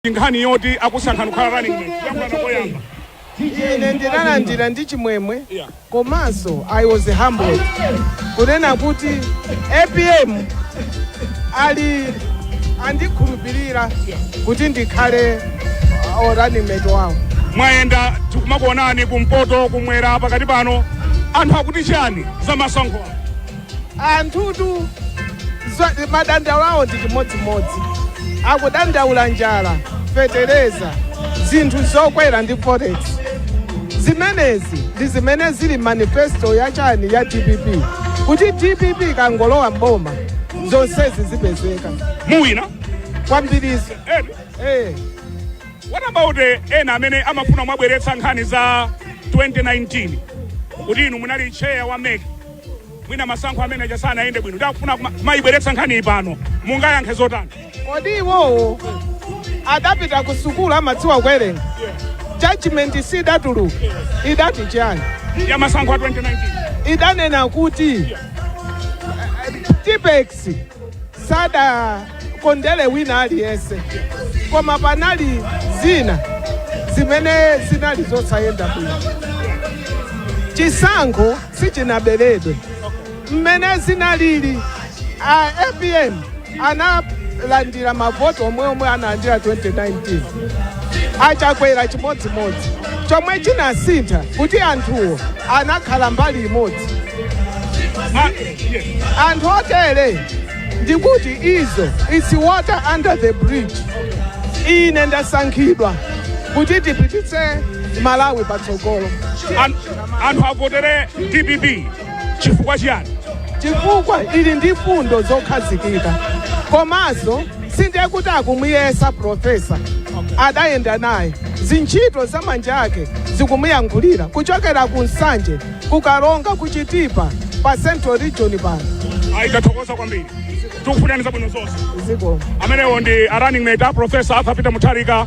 ndi nkhani yoti akusankhani kukhala running mate kuyankhulana koyamba ine ndinalandira ndi chimwemwe Yeah. komanso i was humbled kunena kuti apm ali andikhulupirira kuti ndikhale uh, running mate wawo mwayenda tikumakuonani kumpoto kumwera pakati pano anthu akuti chani za masankho awa? anthutu zwa- madandaulo awo ndi chimodzimodzi akudandaula njala fetereza zinthu zokwera ndi forex zimenezi ndi zimene zili m'manifesto ya chani ya dpp kuti dpp ikangolowa mboma zonsezi zipezeka muwina kwambiriso ena eh. what about eh, ena amene amafuna kubweretsa nkhani za 2019 kuti inu munali chair wa mec Mwina masankho amene aja sanayende bwino, ndakufuna kumayibweretsa nkhaniyi pano, mungayankhe zotani? Kodi iwowo adapita ku sukulu amadziwa kuwerenga? Judgment sidatuluka idati chiyani? Ya masankho a 2019 idanena kuti eh, Tipex sadakondere wina aliyense, koma panali zina zimene zinali zosayenda bwino chisankho sichinaberedwe mmene zinalili a apm analandira mavoti omwe omwe analandira 2019 a chakwera chimodzimodzi chomwe chinasintha n'kuti anthuwo anakhala mbali imodzi anthu otere ndikuti izo its water under the bridge ine ndasankhidwa kuti tipititse malawi patsogolo An- anthu avotere dpp chifukwa chiyani chifukwa ili ndi fundo zokhazikika komanso sindiye kuti akumuyesa profesa adayenda naye zintchito za manja ake zikumuyankhulira kuchokera ku nsanje ku karonga ku chitipa pa central region pano ayi tathokoza kwambiri tikufunani zabwino zonse zikomo amenewo ndi a running mate a profesa arthur peter mutharika